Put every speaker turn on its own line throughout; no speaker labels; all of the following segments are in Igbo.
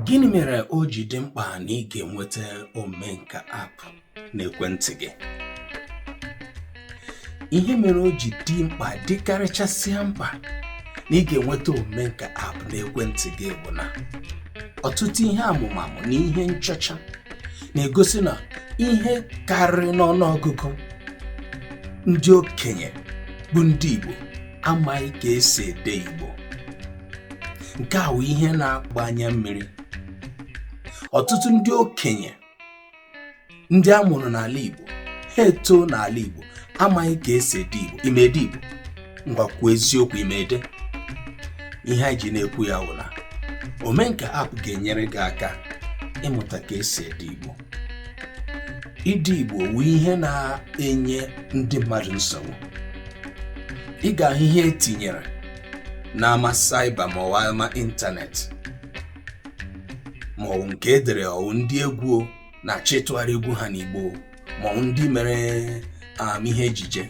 Gịnị mere o ji dị mkpa na ị ga-enweta Omenka app n'ekwentị gị? Ihe mere o ji dị mkpa dịkarịchasịa mkpa na ị ga-enweta Omenka app n'ekwentị gị bụ na ọtụtụ ihe amụmamụ na ihe nchọcha na-egosi na ihe karịrị n'ọnụọgụgụ ndị okenye bụ ndị Igbo amaghị ka esi ede Igbo nke a wụ ihe na-agba anya mmiri ọtụtụ ndị okenye ndị a mụrụ n'ala Igbo ha etoo n'ala Igbo amaghị ka esi ede Igbo ị ma ede Igbo ngwa kwuo eziokwu ị ma ede ihe anyị ji na-ekwu ya wụ na omenka app ga-enyere gị aka ịmụta ka esi ede Igbo ide igbo wụ ihe na-enye ndị mmadụ nsogbu ị ga-ahụ ihe etinyere n'ama cyber maọwụ ama ịntanetị maọwụ nke edere ọwụ ndị egwu na-achọ ịtụgharị egwu ha n'igbo maọwụ ndị mere um, ihe ejije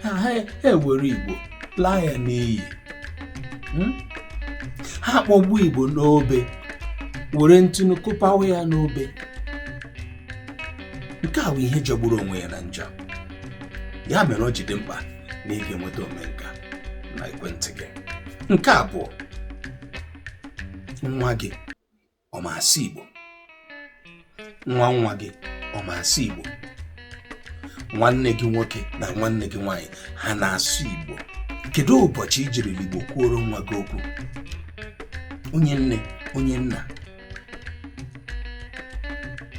ha ewere Igbo laa ya n'iyi hmm? ha akpọgbuo Igbo n'obe were ntụnụ kụpawa ya n'obe nke a wụ ihe jọgburu onwe ya na njọ ya mere o ji dị mkpa na ị ga-enweta omenka n'ekwentị gị nke abụọ nwa gị ọ ma asụ Igbo nwa nwa gị ọ ma asụ Igbo nwanne gị nwoke na nwanne gị nwaanyị ha na-asụ Igbo kedu ụbọchị i jiri Igbo kwuoro nwa gị okwu onye nne onye nna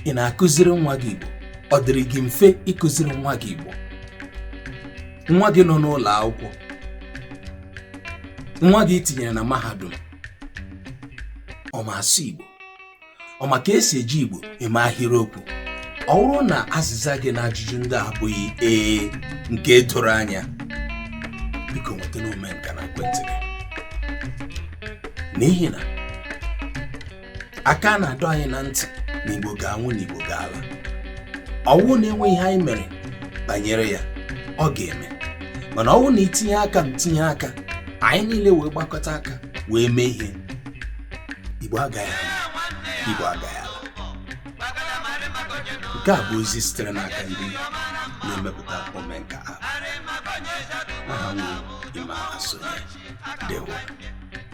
ị na-akụziri nwa gị Igbo ọ dịrị gị mfe ịkụziri nwa gị Igbo nwa gị nọ n'ụlọ akwụkwọ nwa gị i tinyere na mahadum ọ ma asụ igbo ọ ma ka esi eji igbo eme ahịrịokwu ọ wụrụ na azịza gị n'ajụjụ ndị a abụghị ee nke doro anya biko nwetanụ omenka n'ekwentị gị n'ihi na aka a na-adọ anyị na ntị na igbo ga-anwụ na igbo ga-ala ọwụ na enweghị ihe anyị mere banyere ya ọ ga-eme mana ọwụrụ na i tinye aka m tinye aka anyị niile wee gbakọta aka wee mee ihe igbo agaghị ala igbo agaghị ala nke a bụ ozi sitere n'aka ndị na-emepụta omenka app aha m wụ Emma Asonye ndewo